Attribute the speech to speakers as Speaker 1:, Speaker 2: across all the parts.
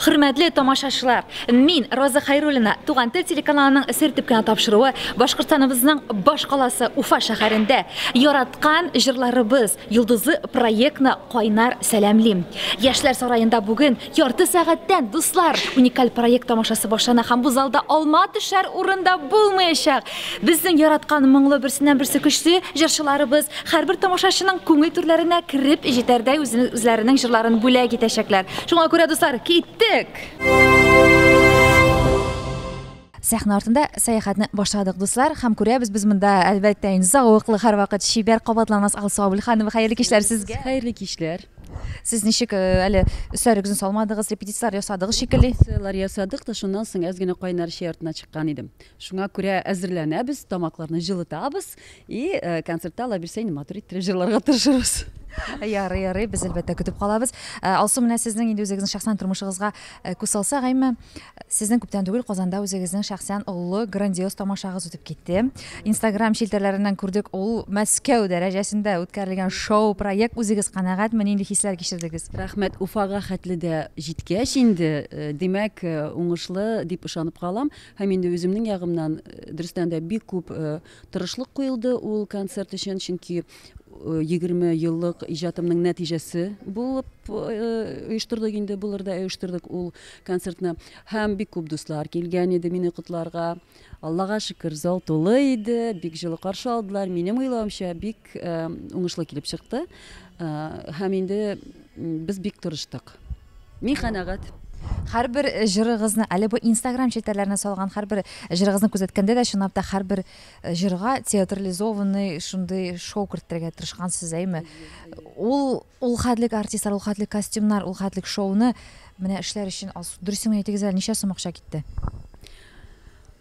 Speaker 1: Хөрмәтле тамашачылар, мин Роза Хайруллина, Туган тел телеканалының сер дип кенә тапшыруы Башкортстаныбызның баш каласы Уфа шәһәрендә яраткан җырларыбыз Йолдызы проектны кайнар сәламлим. Яшьләр сараенда бүген ярты сәгатьтән, дуслар, уникаль проект тамашасы башлана һәм бу залда алма төшәр урын да булмаячак. Безнең яраткан моңлы берсеннән-берсе көчле җырчыларыбыз һәрбер тамашачының күңел түрләренә кереп җитәрдәй үзләренең җырларын бүләк итәчәкләр. Шуңа күрә, дуслар, киттек! Сәхнә артында сәяхәтне башладык, дуслар, һәм күрәбез без монда, әлбәттә, инде зәвыклы һәрвакыт чибәр кабатланмас Алсу Абелханова. Хәерле кичләр сезгә! Хәерле кичләр! Сез ничек, әле өсләрегезне салмадыгыз, репетицияләр ясадыгыз шикелли? Репетицияләр ясадык та, шуннан соң әз генә кайнар чәй артына чыккан идем. Шуңа күрә әзерләнәбез, тамакларны җылытабыз и концертта алабилсә инде матур иттереп җырларга тырышырбыз. Ярый, ярый, без әлбәттә көтеп калабыз. Ә, Алсу, менә сезнең инде үзегезнең шәхсән тормышыгызга э, күз салсак, әйме, сезнең күптән түгел Казанда үзегезнең шәхсән олы грандиоз тамашагыз үтеп китте. Инстаграм челтәрләреннән күрдек, ул Мәскәү дәрәҗәсендә үткәрелгән шоу проект. Үзегез канәгатьме, нинди хисләр кичердегез? Рәхмәт, Уфага хәтле дә җиткәч инде, э, димәк, э, уңышлы дип ышанып калам. Һәм инде үземнең ягымнан, дөрестән дә, бик күп тырышлык куелды ул концерт өчен, чөнки 20 еллык иҗатымның нәтиҗәсе булып оештырдык инде, булыр да оештырдык ул концертны. Һәм бик күп дуслар килгән иде мине котларга. Аллага шөкер, зал тулы иде, бик җылы каршы алдылар. Минем уйлавымча, бик уңышлы килеп чыкты. Һәм инде без бик тырыштык. Мин канәгать. Һәрбер э, җырыгызны, әле бу Instagram челтәрләренә салган һәрбер э, җырыгызны күзәткәндә дә чынлап та һәрбер э, җырга театрализованный шундый шоу кертергә тырышкансыз, әйме? Ул ул хәтлек артистлар, ул хәтлек костюмнар, ул хәтлек шоуны менә эшләр өчен алсу. Дөресен әйтегез әле, ничә сум акча китте?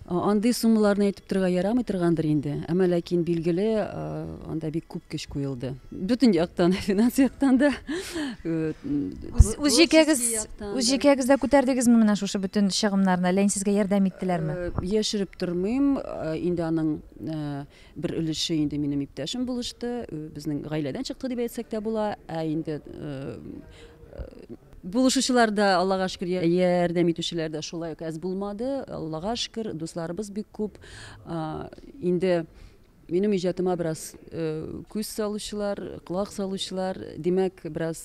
Speaker 1: Андый суммаларны әйтеп торырга ярамый торгандыр инде, әмма ләкин билгеле, анда бик күп көч куелды. Бөтен яктан, финанс яктан да. Үз җикәгез, үз җикәгез дә күтәрдегезме менә шушы бөтен чыгымнарны? Ләйн сезгә ярдәм иттеләрме? Яшереп тормыйм, инде аның Бер өлеше инде минем иптәшем булышты, безнең гаиләдән чыкты дип әйтсәк тә була. Ә инде булышучылар да, Аллага шөкер, ярдәм итүчеләр дә шулай ук әз булмады. Аллага шөкер, дусларыбыз бик күп. Инде минем иҗатыма бераз күз салучылар, колак салучылар, димәк, бераз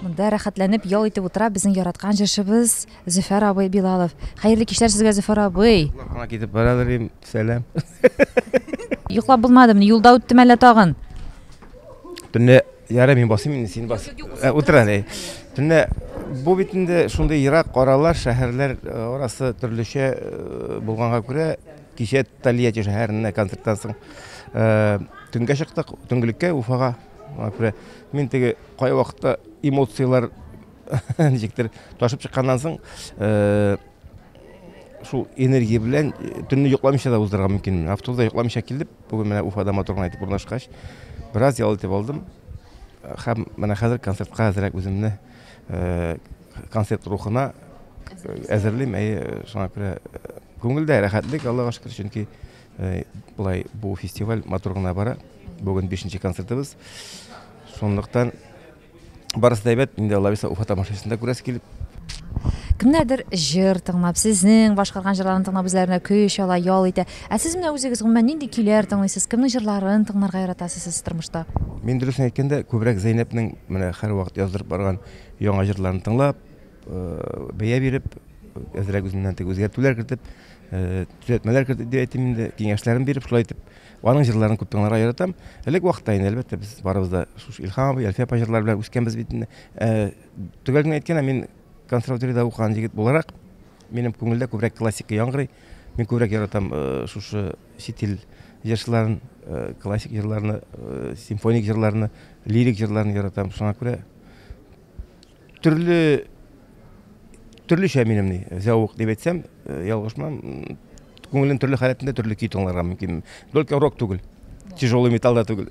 Speaker 1: Монда рәхәтләнеп ял итеп утыра безнең яраткан җырчыбыз Зөфәр абый Билалов. Хәерле кичләр сезгә Зөфәр абый. Аңа китеп барадыр дим, сәлам. Йоклап булмадымы? Юлда үттем әллә тагын? Төнлә Ярай, мин басыйм инде, син бас. Э, Утыр әле. Төнлә бу бит инде шундый ерак аралар, шәһәрләр э, арасы төрлечә э, булганга күрә, кичә Тольятти шәһәренә концерттан соң э, төнгә чыктык, төнгелеккә Уфага. Аңа күрә мин теге кай вакытта эмоцияләр ничектер ташып чыкканнан соң э, шул энергия белән э, төнне йокламыйча да уздырырга мөмкин. Автобуста йокламыйча килеп, Бүген менә Уфада матур гына итеп урнашкач, бераз ял итеп алдым. Һәм менә хәзер концертка әзрәк үземне э, концерт рухына әзерлим. Әйе, шуңа күрә э, күңелдә рәхәтлек, Аллага шөкер, чөнки э, былай бу фестиваль матур гына бара. Бүген бишенче концертыбыз. Шунлыктан Барысы да әйбәт, инде Аллабиса Уфа тамашасын да күрәсе килеп. Кемнәрдер җыр тыңлап, сезнең башкарган җырларын тыңлап үзләренә көч ала, ял итә. Ә сез менә үзегез гомумән нинди көйләр тыңлыйсыз, кемнең җырларын тыңларга яратасыз сез тормышта? Мин дөресен әйткәндә, күбрәк Зәйнәпнең менә һәрвакыт яздырып барган яңа җырларын тыңлап, бәя биреп, әзрәк үземнән теге үзгәртүләр кертеп, төзәтмәләр кертеп дип әйтим инде, киңәшләрен биреп, шулай итеп Аның җырларын күп тыңларга яратам. Элек вакытта инде, әлбәттә, без барыбыз да шушы Илһам абый, Әлфия апа җырлары белән үскәнбез бит инде. Ә, Төгәл генә әйткәндә, мин консерваториядә укыган егет буларак, минем күңелдә күбрәк классика яңгырый. Мин күбрәк яратам э, шушы чит ил җырчыларын, э, классик җырларны, э, симфоник җырларны, лирик җырларны яратам. Шуңа күрә Төрле төрлечә минем ни зәвык дип әйтсәм, ялгышмам. Күңелем төрле халәтендә төрле көй тыңларга мөмкин. Только рок түгел. Тяжелый металл да түгел.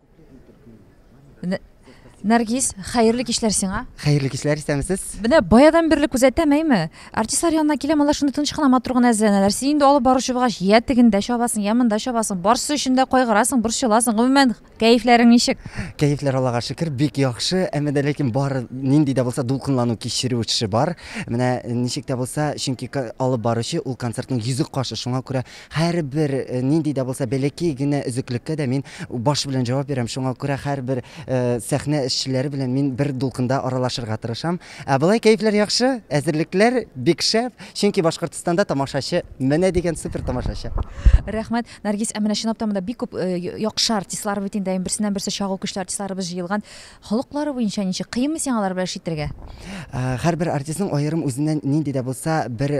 Speaker 1: Нәргиз, хәерле кичләр сиңа. Хәерле кичләр, исәнмесез. Менә баядан бирле күзәтәм, әйме? Артистлар янына киләм, алар шундый тыныч кына матур гына әзерләнәләр. Син инде алып баручы булгач, я тегендә чабасың, я монда чабасың. Барсы өчен дә кайгырасың, борчыласың. Гомумән, кәефләрең ничек? Кәефләр Аллага шөкер, бик яхшы. Әмма дә ләкин бар нинди дә булса дулкынлану кичерү эше бар. Менә ничек тә булса, чөнки алып баручы ул концертның йөзек кашы, шуңа күрә Һәрбер нинди дә булса бәләкәй генә өзеклеккә дә мин баш белән җавап бирәм, шуңа күрә һәрбер сәхнә эшчеләре белән мин бер дулкында аралашырга тырышам. Ә болай кәефләр яхшы, әзерлекләр бик шәп, чөнки Башкортстанда тамашачы менә дигән супер тамашачы. Рәхмәт, Наргиз, ә менә чынлап та монда бик күп яхшы артистлар бит инде, берсеннән-берсе чагу көчле артистларыбыз җыелган. Холыклары буенча ничек? Кыенмы сиңа алар белән эш итәргә? Һәрбер артистның аерым үзеннән нинди дә булса бер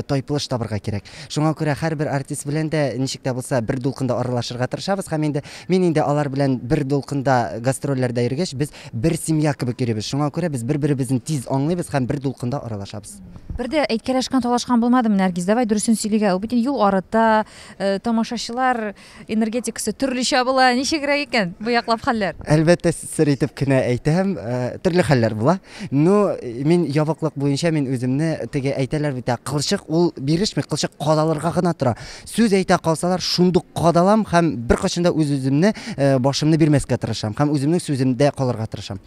Speaker 1: тайпылыш табырга кирәк. Шуңа күрә һәрбер артист белән дә ничек тә булса бер дулкында аралашырга тырышабыз һәм инде мин инде алар белән бер дулкында гастрольләрдә йөргәч, без бер семья кебек йөрибез. Шуңа күрә без бер-беребезне тиз аңлыйбыз һәм бер дулкында аралашабыз. Бер дә әйткәләшкән, талашкан булмадымы, Нәргиз? Давай дөресен сөйлигә, ул бит инде юл арыта, тамашачылар, Энергетикасы төрлечә була, ничегрәк икән бу яклап хәлләр? Әлбәттә, сер итеп кенә әйтәм, э, төрле хәлләр була. Ну, мин ябыклык буенча мин үземне теге әйтәләр бит, ә кылчык ул бирешми, кылчык кадалырга гына тора. Сүз әйтә калсалар, шундук кадалам һәм беркайчан да үз-үземне, э, башымны бирмәскә тырышам һәм үземнең сүземдә калырга тырышам.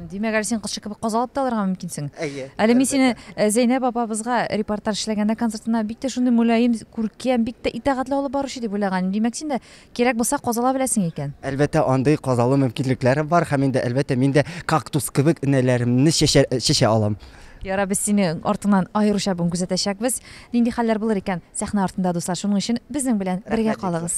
Speaker 1: Димәк, әле син кызчык кебек каз алып та алырга мөмкинсең. Әйе. Әле мин сине э, Зәйнәб апабызга репортаж эшләгәндә концертына бик тә шундый мөлаем, күркәм, бик тә итәгатьле алып баручы дип уйлаган. Димәк, син дә кирәк булса казала беләсең икән. Әлбәттә, андый казалу мөмкинлекләре бар һәм инде әлбәттә мин дә кактус кебек энәләремне чәчә, чәчә алам. Ярар, без сине артыңнан аеруча бүген күзәтәчәкбез. Нинди хәлләр булыр икән сәхнә артында, дуслар. Шуның өчен безнең белән бергә Рәхмәт, калыгыз.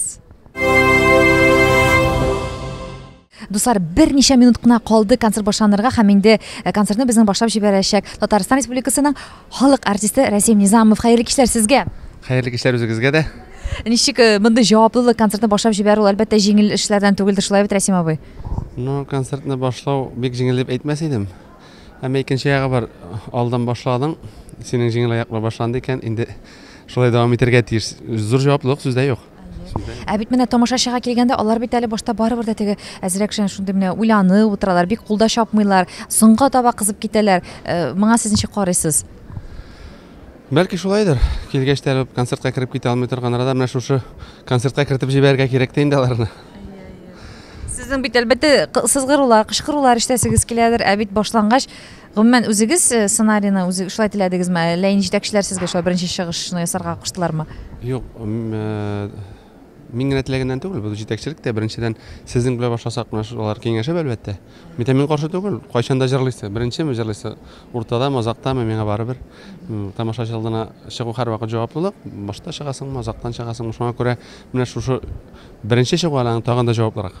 Speaker 1: Дуслар, берничә минут кына калды концерт башланырга һәм инде э, концертны безнең башлап җибәрәчәк Татарстан Республикасының халык артисты Рәсим Низамов. Хәерле кичләр сезгә! Хәерле кичләр үзегезгә дә. Ничек э, мондый җаваплылык концертны башлап җибәрү ул әлбәттә җиңел эшләрдән түгелдер, шулай бит, Рәсим абый? Ну, концертны башлау бик җиңел дип әйтмәс идем. Әмма икенче ягы бар. Алдан башладың, синең җиңел аяк белән башланды икән, инде шулай дәвам итәргә тиеш. Зур җаваплылык сүздә юк. Ә бит менә тамашачыга килгәндә, алар бит әле башта барыбер дә теге әзрәк шән шундый менә уйланып утыралар, бик кулда чапмыйлар, соңга таба кызып китәләр. Э, моңа сез ничек карыйсыз? Бәлки шулайдыр. Килгәч тә концертка кереп китә алмый торган арада менә шушы концертка кертеп җибәрергә кирәк тә инде аларны. Сезнең бит әлбәттә сызгырулар, кычкырулар ишетәсегез киләдер, ә бит башлангач Гомумән, үзегез э, сценарийны үзе шулай теләдегезме, әллә инде җитәкчеләр сезгә шулай беренче чыгышны ясарга куштылармы? Юк, э, мин генә теләгәннән түгел, бу җитәкчелек тә беренчедән сезнең белән башласак менә шулар киңәшеп әлбәттә. Мин мин каршы түгел, кайчан да җырлыйсы, беренчеме җырлыйсы, уртадамы, озактамы, миңа барыбер. Тамашачы алдына чыгу һәрвакыт җаваплылык, башта чыгасыңмы, озактан чыгасыңмы, шуңа күрә менә шушы беренче чыгу аның тагын да җаваплырак.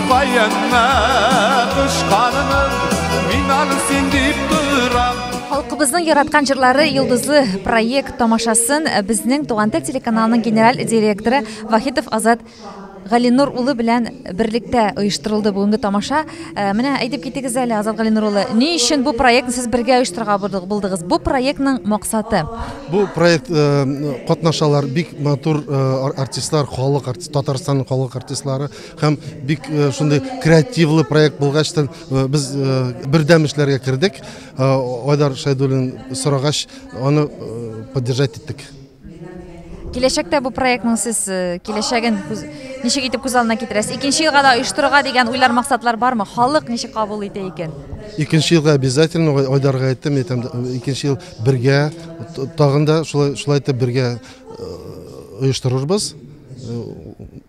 Speaker 1: Каенна кушканым, мин аны син дип торам. Халкыбызның яраткан җырлары йолдызлы проект тамашасын безнең Туган тел телеканалының генераль директоры Вахитов Азат Галинур улы белән берлектә оештырылды бүгенге тамаша. Э, менә әйтеп китегез әле, Азат Галинур улы, ни өчен бу проектны сез бергә оештырырга булдыгыз? Бу проектның максаты? Бу проект э, катнашалар бик матур э, артистлар, халык артист, Татарстан халык артистлары, Һәм бик э, шундый креативлы проект булгачтан э, без э, бердәм эшләргә кердек. Айдар Шайдуллин сорагач, аны поддержать иттек. Киләчәктә бу проектның сез киләчәген ничек итеп күз алдына китерәсез? Икенче елга да оештырырга дигән уйлар, максатлар бармы? Халык ничек кабул итә икән? Икенче елга обязательно Айдарга әйттем, әйтәм, икенче ел бергә тагын да шулай шулай итеп бергә оештырырбыз.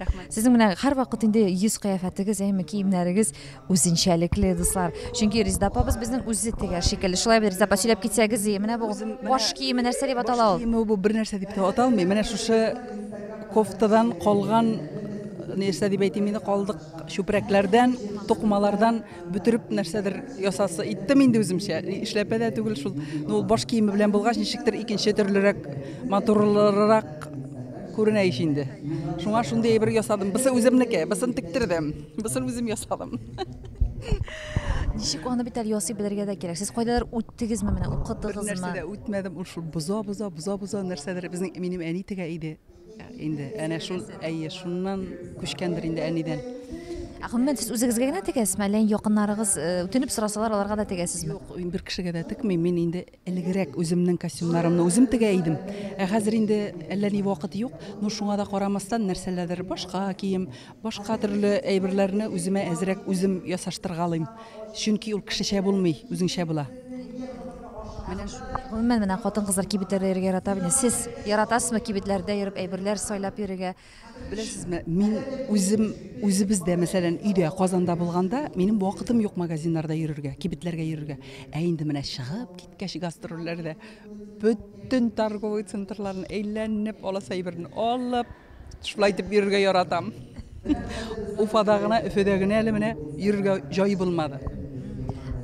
Speaker 1: Рәхмәт. Сезнең менә һәрвакыт инде йөз кыяфәтегез, әйме киемнәрегез үзенчәлекле, дуслар. Чөнки Резда апабыз безнең үзе тегәр шикелле. Шулай бит, Резда апа, сөйләп китсәгез, и, менә бу баш киеме нәрсә дип атала ул? Киеме бу бер нәрсә дип тә аталмый. Менә шушы кофтадан калган нәрсә дип әйтим инде, калдык чүпрәкләрдән, тукымалардан Бөтереп нәрсәдер ясасы иттем инде үземчә. Эшләпә дә түгел шул. Ну, ул баш киеме белән булгач, ничектер икенче төрлерәк, матурлырак күренә ич инде. Шуңа шундый әйбер ясадым. Бысы үземнеке, бысын тектердем, бысын үзем ясадым. Ничек аны бит әле ясый белергә дә кирәк. Сез кайдадыр үттегезме менә, укытыгызмы? Нәрсә дә үтмәдем, ул шул боза-боза, боза-боза нәрсәдер безнең минем әни тегә иде. Инде әнә шул, әйе, шуннан күчкәндер инде әнидән. Ә гомумән сез үзегезгә генә тегәсезме, әллә якыннарыгыз э, үтенеп сорасалар, аларга да тегәсезме? Юк, бер кешегә дә текмим. Мин инде элегрәк үземнең костюмнарымны үзем тегә идем. Ә хәзер инде әллә ни вакыт юк. Ну шуңа да карамастан нәрсәләрдер башка кием, Башка төрле әйберләрне үземә әзрәк үзем ясаштыргалыйм. Чөнки ул кешечә булмый, үзеңчә була. Менә шул. Гомумән, менә хатын-кызлар кибетләрдә йөрергә ярата бит. Сез яратасызмы кибетләрдә йөреп әйберләр сайлап йөрергә? Беләсезме, мин үзем үзебездә, мәсәлән, өйдә, Казанда булганда, минем вакытым юк магазиннарда йөрергә, кибетләргә йөрергә. Ә инде менә чыгып киткәч гастрольләрдә, бөтен торговый центрларны әйләнеп, аласы әйберне алып, Шулай итеп йөрергә яратам. Уфада гына, Өфөдә генә әле менә йөрергә җай булмады.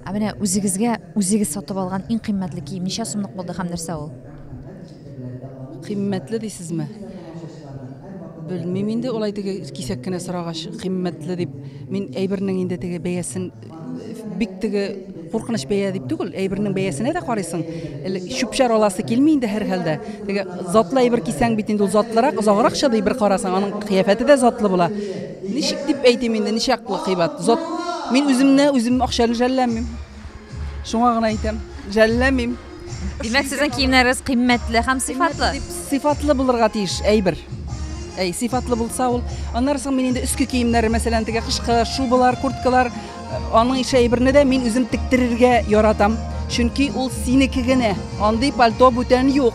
Speaker 1: Ә менә үзегезгә үзегез сатып алган иң кыйммәтле кием ничә сумлык булды һәм нәрсә ул? Кыйммәтле дисезме? Белмим инде, улай теге кисәк кенә сорагач, кыйммәтле дип. Мин әйбернең инде теге бәясен Бик теге куркыныч бәя дип түгел, әйбернең бәясенә дә карыйсың. Элек чүпчәр аласы килми инде һәр хәлдә. Теге затлы әйбер кисәң бит инде ул затлырак, озаграк чыдый бер карасаң, аның кыяфәте дә затлы була. Ничек дип әйтим инде, ничаклы кыйбат. Зат Мин үземне үзем акча белән жәлләмим. Шуңа гына әйтәм, жәлләмим. Димәк, сезнең киемнәрегез кыйммәтле һәм сыйфатлы. Сыйфатлы булырга тиеш әйбер. Әй, сыйфатлы булса ул. Аннары соң мин инде өске киемнәре, мәсәлән, теге кышкы шубалар, курткалар, э, аның ише әйберне дә мин үзем тектерергә яратам. Чөнки ул синеке генә. Андый пальто бүтән юк.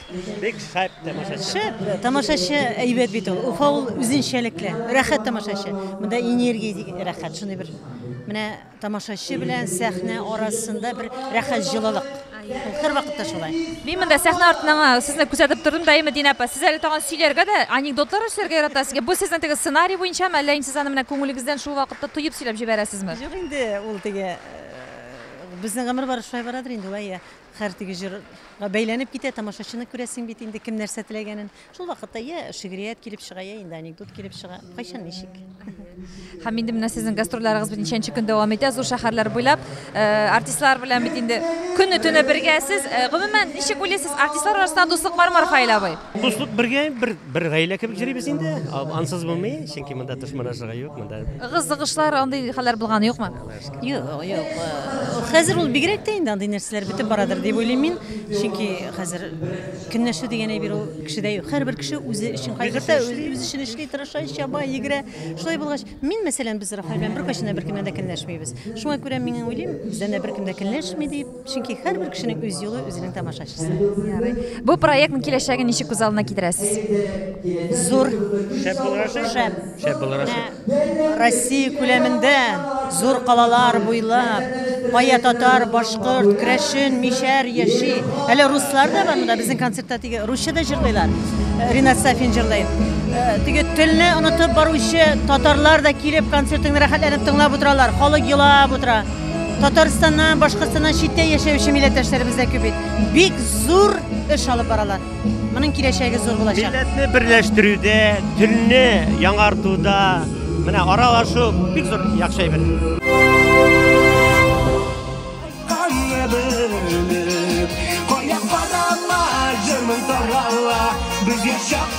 Speaker 1: Бик шәп тамашачы. Шәп. Тамашачы әйбәт бит ул. Уфа ул үзенчәлекле. Рәхәт тамашачы. Монда энергия ди, рәхәт шундый бер. Менә тамашачы белән сәхнә арасында бер рәхәт җылылык. Ул һәрвакытта шулай. Мин монда сәхнә артыннан а, сезне күзәтеп тордым да, әйме, Динә апа, сез әле тагын сөйләргә дә, анекдотлар эшләргә яратасыз. Бу сезнең теге сценарий буенчамы, әллә инде сез аны менә күңелегездән шул вакытта тоеп сөйләп җибәрәсезме? Юк инде, ул теге э, безнең гомер бары шулай барадыр инде, вә я. Хәр теге җырга бәйләнеп китә, тамашачыны күрәсең бит инде, кем нәрсә теләгәнен. Шул вакытта я шигърият килеп чыга, я инде анекдот килеп чыга. Кайчан ничек. Һәм инде менә сезнең гастрольләрегез бит ничәнче көн дәвам итә, зур шәһәрләр буйлап. Э, артистлар белән бит инде көне-төне бергәсез. Э, гомумән, ничек уйлыйсыз, артистлар арасында дуслык бармы, Рафаэль абый? Дуслык бергә, бер, бер гаилә кебек йөрибез инде. Ансыз булмый, чөнки монда дошманлашырга юк, монда. Ыгы-зыгышлар, андый хәлләр булганы юкмы? Юк, юк. Э, хәзер ул бигрәк тә инде андый нәрсәләр бетеп барадыр дип уйлыйм мин. Чөнки хәзер көнләшү дигән әйбер ул кешедә юк. Һәрбер кеше үзе өчен кайгырта, үз эшен эшли, тырыша, чаба, йөгерә. Шулай булгач, мин мәсәлән, без Рафаэль белән беркайчан да беркемнән дә көнләшмибез. Шуңа күрә мин уйлыйм, бездән дә беркем дә көнләшми дип. Чөнки һәрбер кешенең үз юлы, үзенең тамашачысы. Ярый. Бу проектның киләчәген ничек күз алдына китерәсез? Зур. Шәп булыр ошый? Шәп. Шәп булыр ошый. Менә Россия күләмендә зур калалар буйлап, кая татар, башкорт, крәшен, мишәр яши. Әле руслар да бар монда безнең концертта теге русча да җырлыйлар. Э, Ринат Сафин җырлый. Э, Теге телне онытып баручы татарлар да килеп концертыңны рәхәтләнеп тыңлап утыралар. Халык елап утыра. Татарстаннан, Башкортстаннан читтә яшәүче милләттәшләребез дә күп бит. Бик зур эш алып баралар. Моның киләчәге зур булачак. Милләтне берләштерүдә, телне яңартуда, менә аралашу бик зур яхшы әйбер. Кая барама, җырмын тарала, без яшәп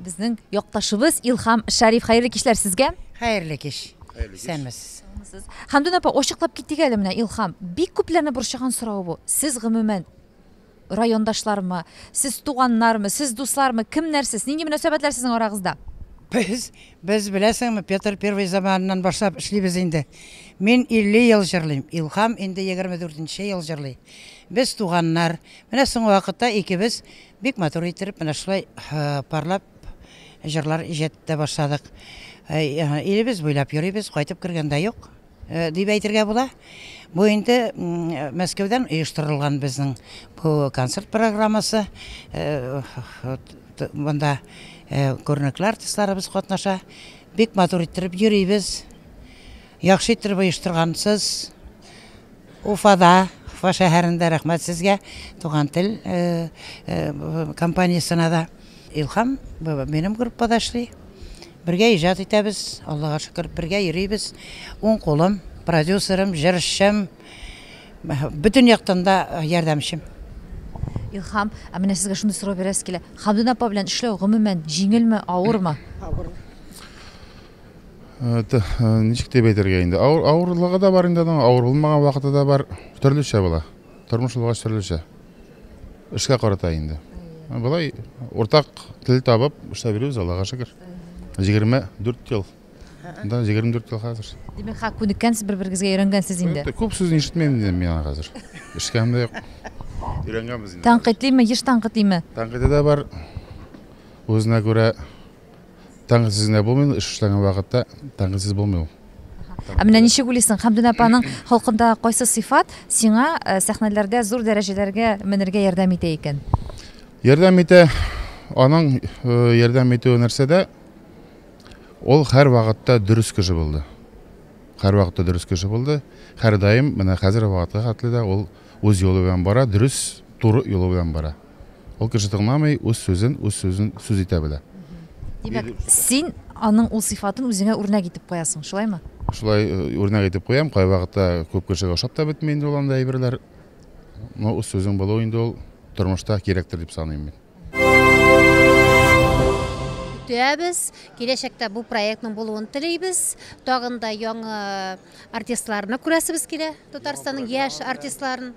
Speaker 1: Безнең якташыбыз Илхам Шәриф, хәерле кичләр сезгә. Хәерле кич. Исәнмесез. Хәмдүн апа, ачыклап китик әле менә Илхам. Бик күпләрне борчыган сорау бу. Сез гомумән райондашлармы, сез туганнармы, сез дуслармы, кемнәр сез? Нинди мөнәсәбәтләр сезнең арагызда? Без без беләсеңме, Петр Первый заманыннан башлап эшлибез инде. Мин 50 ел җырлыйм. Илхам инде 24 нче ел җырлый. Без туганнар. Менә соңгы вакытта икебез Бик матур иттереп менә шулай парлап җырлар иҗат итә башладык. Илебез буйлап йөрибез, кайтып кергән дә юк, дип әйтергә була. Бу инде Мәскәүдән оештырылган безнең бу концерт программасы. Монда күренекле артистларыбыз катнаша. Бик матур иттереп йөрибез. Яхшы иттереп оештыргансыз. Уфада, Уфа шәһәрендә рәхмәт сезгә, Туган тел компаниясенә дә. Илһам минем группада эшли. Бергә иҗат итәбез, Аллага шөкер, бергә йөрибез. Уң кулым, продюсерым, җырчым, бөтен яктан да ярдәмчем. Илһам, ә менә сезгә шундый сорау бирәсе килә. Хәмдүнә апа белән эшләү гомумән җиңелме, авырмы? Авыр. Ничек дип әйтергә инде? Авырлыгы да бар инде аның, авыр булмаган вакыты да бар. Төрлечә була. Тормыш булгач төрлечә. Эшкә карата инде. Болай уртак тел табып эшләп йөрибез, Аллага шөкер. 24 ел. Да, 24 ел хәзер. Димәк, ха күнеккәнсез, бер-берегезгә өйрәнгәнсез инде. Күп сүз ишетмим инде мин аңа хәзер. Эшкәм дә юк. Өйрәнгәнбез инде. Тәнкыйтьлиме, еш тәнкыйтьлиме? Тәнкыйтьле дә бар. Үзенә күрә Тәңгәлсез генә булмый ул, эш эшләгән вакытта тәңгәлсез булмый ул. Ә менә ничек уйлыйсың, Хәмдүнә апаның холкында кайсы сыйфат сиңа э, сәхнәләрдә зур дәрәҗәләргә менергә ярдәм итә икән? Ярдәм итә, аның э, ярдәм итүе нәрсәдә? Ул һәр вакытта дөрес кеше булды. Һәр вакытта дөрес кеше булды. Һәрдаим, менә хәзер вакытка хәтле дә ул үз юлы белән бара, дөрес, туры юлы белән бара. Ул кеше тыңламый, үз сүзен, үз сүзен сүз итә белә. Димәк, син аның ул сыйфатын үзеңә үрнәк итеп куясың, шулаймы? Шулай э, үрнәк итеп куям, кайвакытта күп кешегә ошап та бетми инде ул анда әйберләр. Но үз сүзең булу инде ул тормышта кирәктер дип саныйм мин. көтәбез. Киләчәктә бу проектның булуын телибез. Тагын да яңа артистларны күрәсебез килә, Татарстанның яшь артистларын.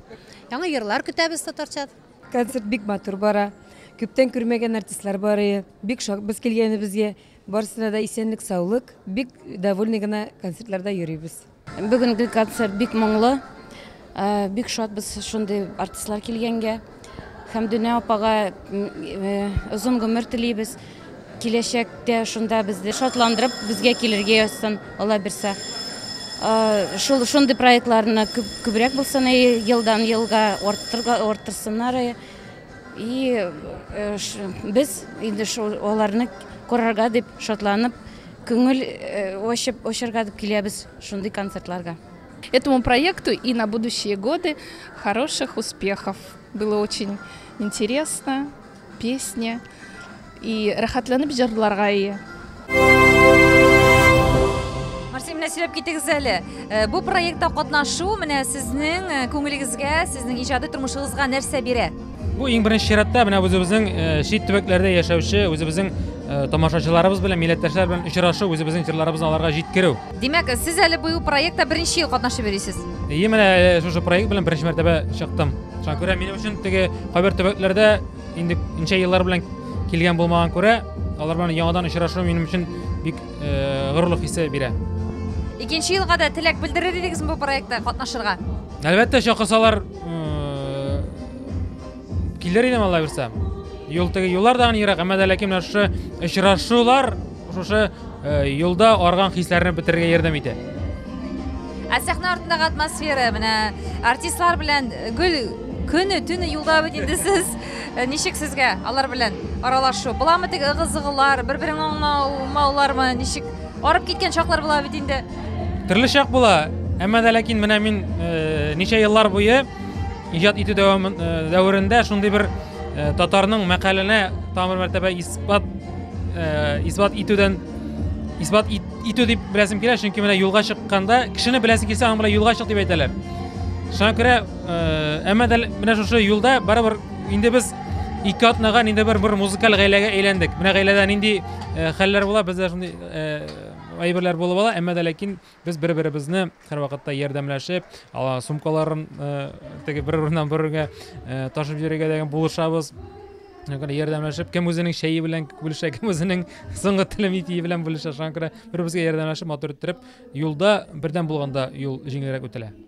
Speaker 1: Яңа йырлар көтәбез татарча. Концерт бик матур бара. Күптән күрмәгән артистлар барые. Бик шат без килгәнебезгә. Барысына да исәнлек, саулык. Бик довольны гына концертларда йөрибез. Бүгенге концерт бик моңлы. Э, бик шат без шундый артистлар килгәнгә. Хәмдүнә апага э, озын гомер телибез. Киләчәктә шунда безне шатландырып, безгә килергә язсын, Алла бирса. Шул шундый проектларны күбрәк булсын, елдан елга арттырсыннар. И без инде шул аларны карарга дип шатланып, күңел ачып очарга дип киләбез шундый концертларга. Этому проекту и на будущие годы хороших успехов! Было очень интересно. Песня и рәхәтләнеп җырларга ия. Марсия, менә сөйләп китегез әле. Э, бу проектта катнашу менә сезнең э, күңелегезгә, сезнең иҗади тормышыгызга нәрсә бирә? Бу иң беренче чиратта менә үзебезнең э, чит төбәкләрдә яшәүче, үзебезнең тамашачыларыбыз белән, милләттәшләр белән очрашу, үзебезнең җырларыбызны аларга җиткерү. Димәк, сез әле быел проектта беренче ел катнашып йөрисез. Ие, менә э, шушы проект белән беренче мәртәбә чыктым. Шуңа күрә минем өчен теге кайбер төбәкләрдә инде ничә еллар белән килгән булмаган күрә, алар белән яңадан очрашу минем өчен бик э, горурлык хисе бирә. Икенче елга да теләк белдерер идегезме бу проектта катнашырга? Әлбәттә, чакырсалар э, килер идем алла бирса. Юл теге юллар да ерак, әмма дә ләкин менә шушы очрашулар Шушы юлда арган хисләрне бетерергә ярдәм итә. Ә сәхнә артындагы атмосфера, менә артистлар белән гөл көне төне юлда бит инде сез э, ничек сезгә алар белән аралашу буламы теге ыгы зыгылар бер берең аңламаулармы ничек арып киткән чаклар була бит инде төрле чак була әмма дә ләкин менә мин э, ничә еллар буе иҗат итү э, дәверендә шундый бер Э, татарның мәкаленә тамыр мәртәбә исбат э, исбат итүдән исбат итү дип беләсем килә чөнки менә юлга чыкканда кешене беләсе килсә аның белән юлга чык дип әйтәләр шуңа күрә э, әмма дә менә шушы юлда барыбер инде без ике атнага инде бер бер музыкаль гаиләгә әйләндек менә гаиләдә нинди хәлләр була бездә шундый әйберләр булып ала әмма дә ләкин Без бер-беребезне һәрвакытта ярдәмләшеп, сумкаларын теге бер урыннан бер урынга ташып йөрергә дигән булышабыз. Шаңкыра ярдәмләшеп, кем үзенең чәе белән бүлешә, кем үзенең соңгы телем итие белән бүлешә. Шаңкыра бер-беребезгә ярдәмләшеп, матур иттереп, юлда бердәм булганда юл җиңелрәк үтелә.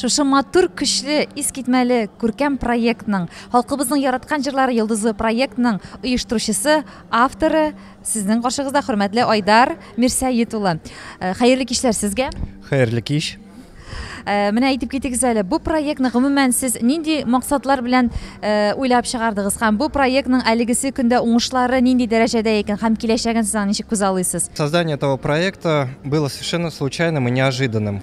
Speaker 1: Шушы матур, көчле, искитмәле, күркәм проектның, халкыбызның яраткан җырлары йолдызы проектның оештыручысы, авторы сезнең каршыгызда хөрмәтле Айдар Мирсәет улы. Э, хәерле кичләр сезгә. Хәерле кич. Э, менә әйтеп китегез әле, бу проектны гомумән сез нинди максатлар белән э, уйлап чыгардыгыз һәм бу проектның әлегесе көндә уңышлары нинди дәрәҗәдә икән һәм киләчәген сез ничек күзаллыйсыз? Создание этого проекта было совершенно случайным и неожиданным.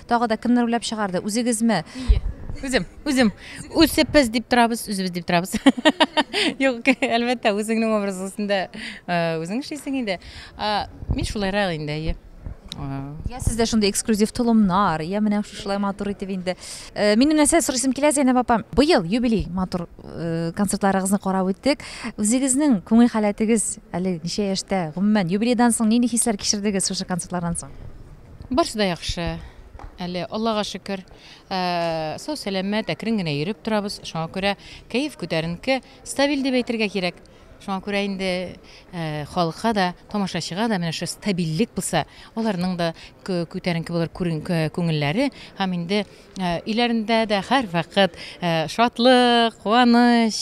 Speaker 1: Тагы да кемнәр уйлап чыгарды? Үзегезме? Ие. Үзем, үзем. Үзебез дип торабыз, үзебез дип торабыз. Юк, әлбәттә, үзеңнең образ өстендә э, үзең эшлисең инде. А, Мин шулайрак инде, әйе. А, Я сездә шундый эксклюзив толымнар, я менә шушылай матур итеп инде. Э, Минем нәрсә сорыйсым килә, Зәйнәб апам. Быел юбилей матур э, концертларыгызны карап үттек. Үзегезнең күңел халәтегез әле ничә яшьтә? Гомумән, юбилейдан соң нинди хисләр кичердегез шушы концертлардан соң? Барсы да яхшы. Әле Аллага шөкер, сау сәламәт, әкрен генә йөреп торабыз. Шуңа күрә кәеф күтәренке, стабиль дип әйтергә кирәк. Шуңа күрә инде э, халыкка да, тамашачыга да менә шушы стабильлек булса, аларның да күтәренке булыр күңелләре һәм инде Өйләрендә дә һәрвакыт шатлык, куаныч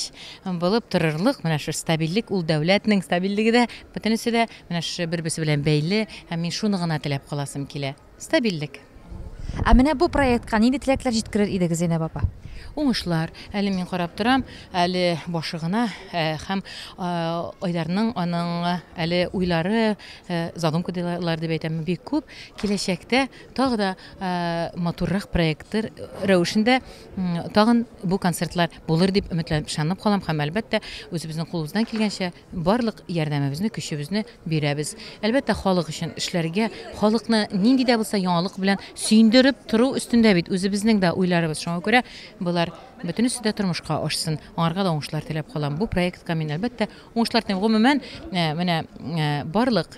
Speaker 1: булып торырлык, менә шушы стабильлек, ул дәүләтнең стабильлеге дә, бөтенесе дә менә шушы бер-берсе белән бәйле. Һәм мин шуны гына теләп каласым килә, стабильлек. Ә менә бу проектка нинди теләкләр җиткерер идегез, Зәйнәб апа? Уңышлар. Әле мин карап торам, әле башы гына һәм Айдарның, аның әле уйлары, задумка дилар дип әйтәме, бик күп. Киләчәктә Тагы да матуррак проекттыр рәвешендә тагын бу концертлар булыр дип өметләнеп ышанып калам һәм әлбәттә үзебезнең кулыбыздан килгәнчә барлык ярдәмебезне көчебезне бирәбез әлбәттә халык өчен эшләргә халыкны нинди дә булса яңалык белән сөендереп тору өстендә бит үзебезнең дә уйларыбыз шуңа күрә болар бөтенесе дә тормышка ашсын аңарга да уңышлар теләп калам бу проектка мин әлбәттә уңышлар телим гомумән менә барлык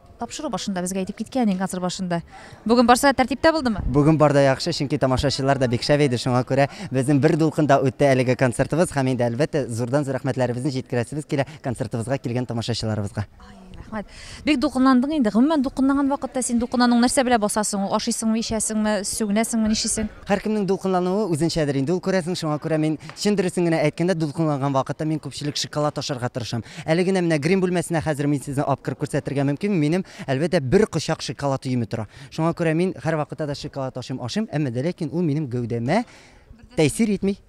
Speaker 1: Тапшыру башында безгә әйтеп киткән идең, концерт башында. Бүген барса тәртиптә булдымы? Бүген бар да яхшы, чөнки тамашачылар да бик шәп иде, шуңа күрә безнең бер дулкында үтте әлеге концертыбыз һәм инде әлбәттә зурдан зур рәхмәтләребезне җиткерәсебез килә концертыбызга килгән тамашачыларыбызга. Ай, рәхмәт. Бик дулкынландың инде. Гомумән дулкынланган вакытта син дулкынлануың нәрсә белән баса соң ул? Ашыйсыңмы, ичәсеңме, сүгенәсеңме, ничисең? Һәркемнең дулкынлануы үзенчәдер инде ул, күрәсең, шуңа күрә мин, чын дөресен генә әйткәндә, дулкынланган вакытта мин күпчелек шоколад ашарга тырышам. Әле генә менә грим бүлмәсенә хәзер мин сезне алып кереп күрсәтергә мөмкинме, минем, әлбәттә, бер кочак шоколад өеме тора. Шуңа күрә мин һәрвакытта да шоколад ашыйм, ашыйм, әмма дә ләкин ул минем гәүдәмә тәэсир итми.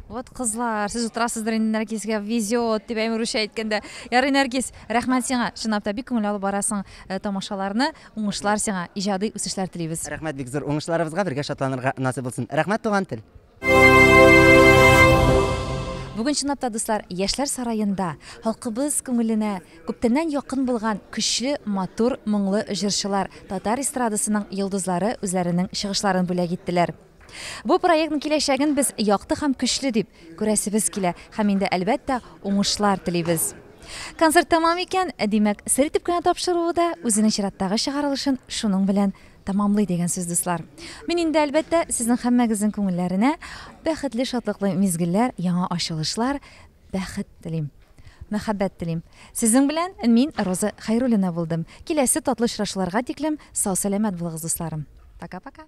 Speaker 1: Вот кызлар, сез утырасыздыр инде Нәркискә везет дип әйме русча әйткәндә. Ярый Нәркис, рәхмәт сиңа. Чынлап та бик күңел алып барасың э, тамашаларны. Уңышлар сиңа, иҗади үсешләр телибез. Рәхмәт бик зур. Уңышларыбызга бергә шатланырга насыйп булсын. Рәхмәт туган тел. Бүген чынлап та дуслар, Яшьләр сараенда халкыбыз күңеленә күптәннән якын булган көчле, матур, моңлы җырчылар, татар эстрадасының йолдызлары үзләренең чыгышларын бүләк иттеләр. Бу проектның киләчәген без якты һәм көчле дип күрәсебез килә һәм инде, әлбәттә, уңышлар телибез. Концерт тәмам икән, димәк, сер итеп кенә тапшыруы да үзенең чираттагы чыгарылышын шуның белән тәмамлый дигән сүз, дуслар. Мин инде, әлбәттә, сезнең һәммәгезнең күңелләренә бәхетле, шатлыклы мизгелләр, яңа ачылышлар, бәхет телим. Мәхәббәт телим. Сезнең белән мин Роза Хәйруллина булдым. Киләсе татлы очрашуларга тиклем сау-сәламәт булыгыз, дусларым. Пока-пока.